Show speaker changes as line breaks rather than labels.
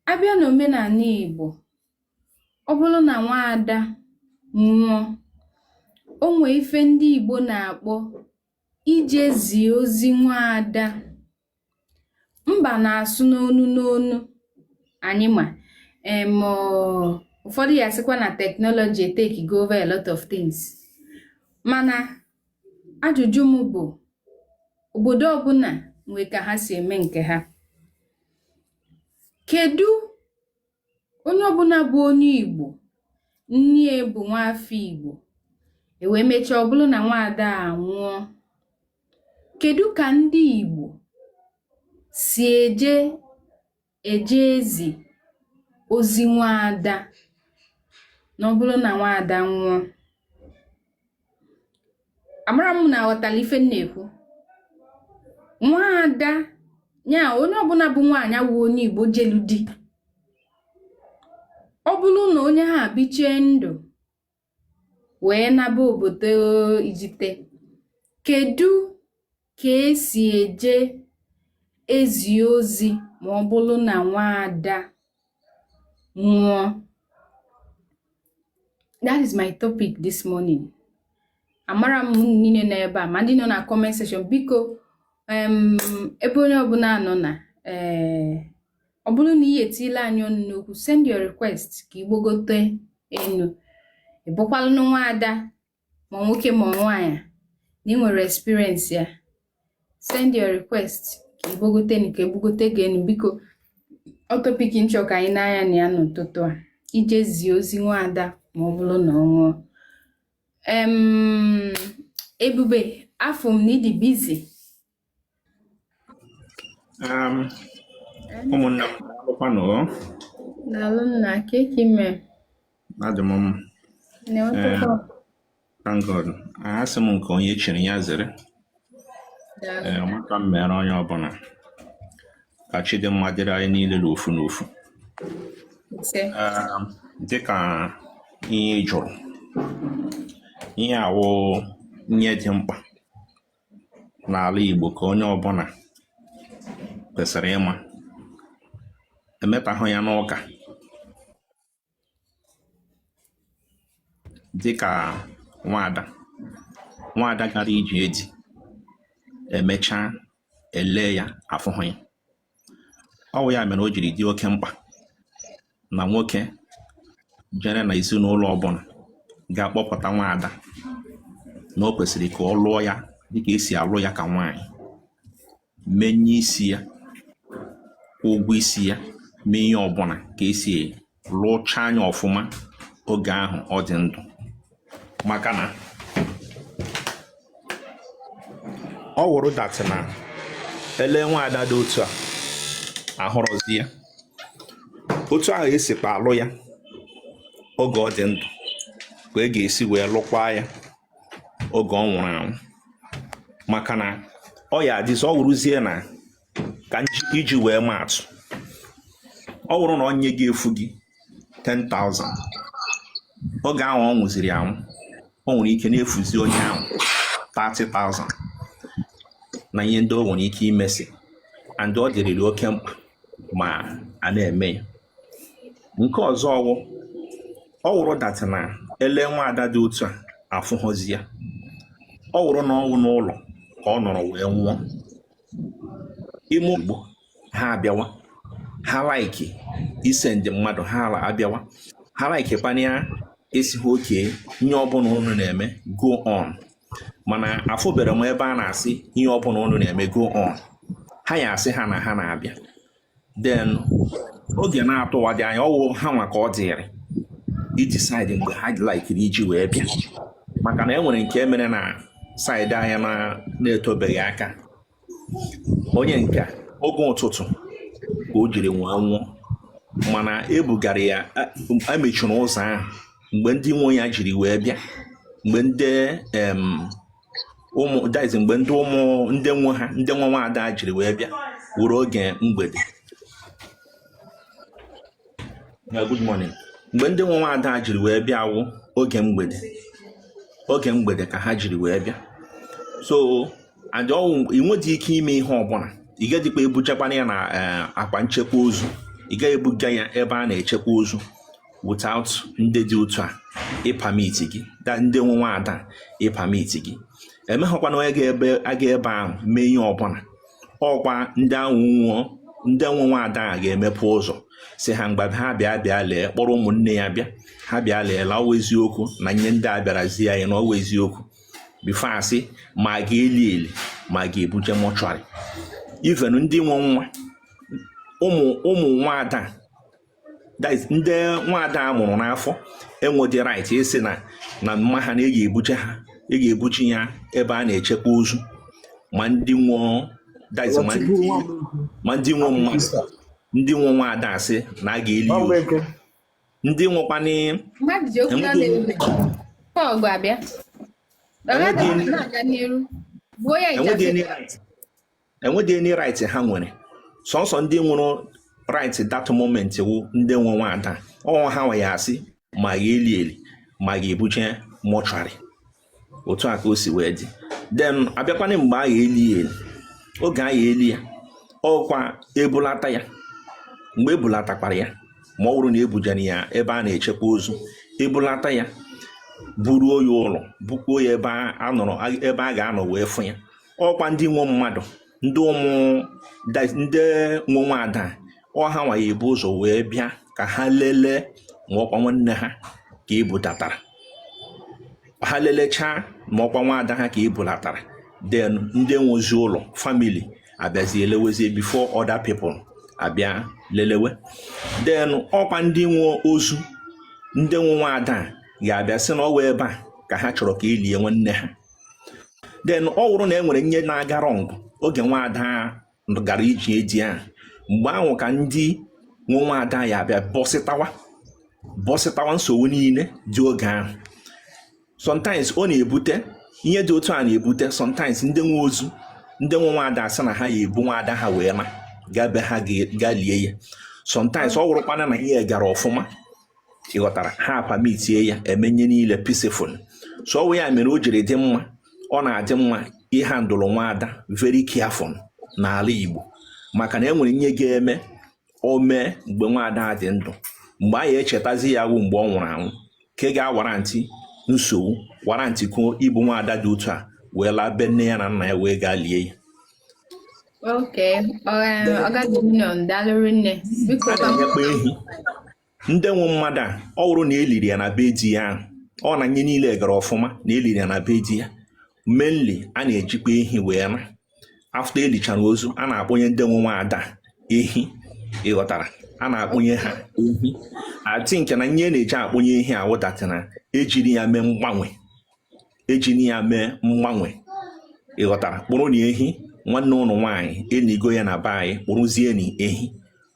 a bịa n'òmenànị Ìgbò ọ bụrụ nà nwaada nwụọ o nwee ife ndị Ìgbò nà-àkpọ ije zie ozi nwaada mbà nà-àsụ n'onu n'onu ànyị mà em ụfọdụ ya-asịkwa na technology etekigo over a lot of things mana ajụjụ m bụ obodo ọbụla nwe ka ha si eme nke ha kedu onye ọbụla bụ onye Igbo nne ya bụ nwaafọ Igbo e wee mechaa ọ bụrụ na nwaada anwụọ kedu ka ndị Igbo si eje eje ezi ozi nwaada na ọ bụrụ na nwaada nwụọ amara m unu aghọtala ife m na-ekwu nwaada nya onye ọbụla bụ nwaanyị wụ onye igbo jelu di ọ bụrụ na onye ahụ bichie ndụ wee naba obodo Ijite. Kedu ka e si eje ezi ozi ma ọ bụrụ na nwaada nwụọ? That is my topic this morning. Amara m unu niile nọ ebe a ma ndị nọ na comment section biko ebe onye ọbụla nọ na ee eh, ọ bụrụ na ị etile anyị ọnụ n'okwu send your request ka i gbagote enu ị bụkwalụ nwaada ma nwoke ma nwaanyị na ị nwere experience ya send your request ka i gbagote enu ka e bugote gị enu biko ọ topic m chọ ka anyị nee anya na ya n'ụtụtụ a ije zie ozi nwaada ma ọ bụrụ na ọ nwụọ ebube afụ m na ị dị busy
Um, ụmụnna m alụkwanụ o?
Daalụ nna, kee ka i mee? Adị m
mma. Na Eh, ụtụtụ thank God. Asị m nke onye chiri ya zere. daalụ. Ee, maka m mere onye ọbụla. Ka chi dị mma dịrị anyị niile n'ofu n'ofu. Ise. Um, dịka ihe ị jụrụ, ihe a wụ ihe dị mkpa. n'ala Igbo ka onye ọbụla kwesịrị ịma emetahụ ya n'ụka dịka nwaada nwaada gara ije di e mechaa e lee ya afụhụ ya ọ wụ ya mere o jiri dị oke mkpa na nwoke jere na ezinụlọ ọbụla gaa kpọpụta nwa ada na o kwesịrị ka ọ lụọ ya dịka esi alụ ya ka nwaanyị mee ihe isi ya kwụọ ụgwọ isi ya mee ihe ọbụla ka esi lụcha anya ọfụma oge ahụ ọ dị ndụ maka na ọ wụrụ that na ele nwaada dị otu a ahụrọzi ya otu ahụ esikwa alụ ya oge ọ dị ndụ ka e ga-esi wee lụkwa ya oge ọ nwụrụ anwụ maka na ọ ya-adịzi ọ wụrụzie na ka iji wee maa atụ ọ wụrụ na ihe ga-efu gị 10,000 oge ahụ ọ nwụziri anwụ o nwere ike na-efuzi onye ahụ 30,000 na ihe ndị o nwere ike imesi and ọ dịrịrị oke mkpa ma a na-eme ya nke ọzọ wụ ọ wụrụ that na ele nwa ada dị otu a afụhụzi ya ọ wụrụ na ọ wụ n'ụlọ ka ọ nọrọ wee nwụọ ime ugbo ha abịawa ha like ise ndị mmadụ ha ala abịawa ha like kpania asị ha okay ihe ọbụla unu na-eme go on mana afụbere m ebe a na-asị ihe ọbụla unu na-eme go on ha ya-asị ha na ha na-abịa then a ga na-atụwadị anya ọ wụ ha nwa ka ọ dịrị ịdecide mgbe ha likeiri iji wee bịa maka na e nwere nke mere na side anyị na-etebeghị aka onye nke oge ụtụtụ ka o jiri wee nwụọ mana ebugara ya emechiri ụzọ ahụ mgbe ndị nwe ya jiri wee bịa mgbe ndị ụmụ that is mgbe ndị ụmụ ndị nwe ha ndị nwe nwaada jiri wee bịa wụrụ oge mgbede good morning mgbe ndị nwe nwaada jiri wee bịa wụ oge mgbede ka ha jiri wee bịa so and ọ wụ ị nwedị ike ime ihe ọbụla ị ga-edikwa ebujekwana ya na eh, akpa nchekwa ozu ị gaghị ebuga ya ebe a na-echekwa ozu without ndị dị otu a ịpermit gị ndị nwe nwada ịpermit gị enweghịkwa onye ga-aga ebe ahụ mee ihe ọbụla ọkwa ndị ahụ wụ ndị nwe nwada a ga-emepe ụzọ sị ha ngwa ha bịa bịa lee kpọrọ ụmụnne ya bịa ha bịa lee na ọ wụ eziokwu na ihe ndị a bịara zi anyị na ọ wụ eziokwu before a sị ma a ga-eli eli ma a ga-ebuje mortuary even ndị nwe nwa ụmụ ụmụ nwada guys ndị nwaada a mụrụ n'afọ enwedị right ịsị na mama ha na a ga-ebuje ha a ga-ebuje ya ebe a na-echekwa ozu ma ndị nwe guys ma ndị nwe mmadụ ndị nwe nwaada asị na a ga-eli ozu ndị nwekwanị enwedị any right ha nwere sọsọ ndị nwere right that moment wụ ndị nwe nwada ọ ha nwa ya asị ma a ga-eli eli ma a ga-ebuje mọchụarị otu a ka o si wee dị then abịakwana mgbe a ya eli eli oge a ya eli ya ọkwa ebulata ya mgbe ebulatakwara ya ma ọ bụrụ na ebujere ya ebe a na-echekwa ozu ebulata ya buruo ya ụlọ bukwuo ya ebe a ga-anọ wee fụ ya ọkwa ndị nwe mmadụ ndị ụmụ ndị nwe nwada ọ ha nwa ya ebu ụzọ wee bịa ka ha lelee ma ọkwa nwanne ha ka ebutatara ha lelechaa ma ọkwa nwada ha ka ebulatara then ndị nwezi ụlọ family abịazi elewezie before other people abịa lelewe then ọkwa ndị nwe ozu ndị nwe nwada ga-abịa sị na ọ wụ ebe a ka ha chọrọ ka elie nwanne ha then ọ wụrụ na e nwere nye na-aga wrong oge nwaada gara ije di ahụ mgbe ahụ ka ndị nwe nwaada ya abịa bọsịtawa bọsịtawa nsogbu niile dị oge ahụ sometimes ọ na-ebute ihe dị otu a na-ebute sometimes ndị nwe ozu ndị nwe nwaada asị na ha ya ebu nwaada ha wee laa gaa be ha ga lie ya sometimes ọ wụrụkwana na ihe gara ọfụma ịghọtara ha apamitie ya e mee nye niile peaceful so ọ wụ ya mere o jiri dị mma ọ na-adị mma ịhandle nwa ada very careful n'ala Igbo maka na e nwere ihe ga-eme o mee mgbe nwa ada dị ndụ mgbe a ya echetazi ya wụ mgbe ọ nwụrụ anwụ ke ga-awarantị nsogbu warantịkwuo ibu nwa ada dị otu a wee laa be nne ya na nna ya wee gaa lie ya na-enyekwa ehi ndị nwe mmadụ a ọ bụrụ na eliri ya na be di ya ahụ ọ na nye niile gara ọfụma na eliri ya na be di ya mainly a na-ejikwa ehi wee na after elichara ozu a na-akpụnye ndị nwe nwa ada ehi ịghọtara a na-akpụnye ha ehi I think na nye a na-eji akpụnye ehi a wụ that na ejiri ya mee mgbanwe ejiri ya mee mgbanwe ịghọtara kpụrụnị ehi nwanne unu nwaanyị enigo ya na be anyị kpụrụzienị ehi